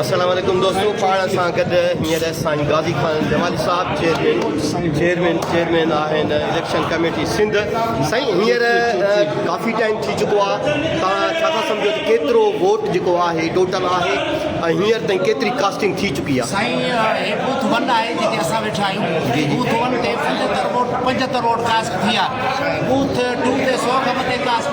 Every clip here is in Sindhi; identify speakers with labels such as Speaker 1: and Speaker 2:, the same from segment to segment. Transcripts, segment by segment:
Speaker 1: السلام عليڪم دوستو پاڻ سان گڏ هينئر سائين غازي خان جمالي صاحب چيئرمين چيئرمين چيئرمين آهن اليڪشن ڪميٽي سنڌ سائين هينئر ڪافي ٽائيم ٿي چڪو آ توهان ڇا ٿا سمجھو ته ڪيترو ووٽ جيڪو آهي ٽوٽل آهي ۽ هينئر تائين ڪيتري ڪاسٽنگ ٿي چڪي آ سائين هي بوٿ
Speaker 2: 1 آهي جتي اسان ويٺا آهيون جي بوٿ 1 تي 75 ووٽ 75 ووٽ ڪاسٽ ٿي آ بوٿ 2 تي 100 کان مٿي ڪاسٽ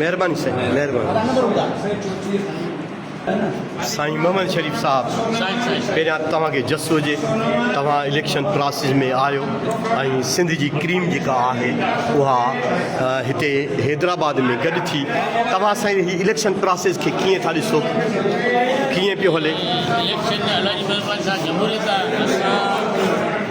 Speaker 1: مهرباني سائين مهرباني. سائين محمد شريف صاحب پهريان توهان کي جس هجي توهان اليڪشن پراسيس ۾ آهيو ۽ سنڌ جي ڪريم جيڪا آهي اها هتي حيدرآباد ۾ گڏ ٿي توهان سائين هي اليڪشن پراسيس کي ڪيئن ٿا ڏسو ڪيئن پيو هلي. اليڪشن ۾ الله
Speaker 3: جي مهرباني سان جمهوريت آهي اسان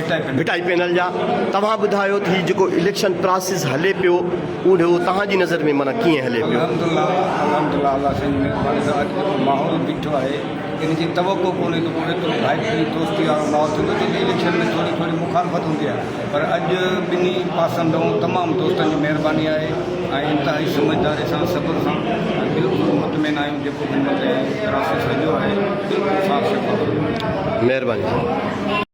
Speaker 1: ڀٽائي پينل جا توهان ٻڌايو ته هي جيڪو اليڪشن پراسيس هلي پيو اهو توهان جي نظر ۾ معنيٰ ڪيئن هلي پيو. الحمد الله الحمد الله
Speaker 4: الله سائين جي مهرباني سان اڄ جيڪو ماحول بيٺو آهي ان جي توقع ڪونهي ته پوري طور ڀائپي دوستي وارو ماحول ٿيندو جيڪي اليڪشن ۾ ٿوري ٿوري مخالفت هوندي آهي پر اڄ ٻنهي پاسن ڏانهن تمام دوستن جي مهرباني آهي ۽ انتهائي سمجهداري سان صبر سان ۽ بلڪل مطمئن آهيون جيڪو به مطلب پراسيس هليو آهي بلڪل صاف
Speaker 1: شفاف
Speaker 4: مهرباني سائين.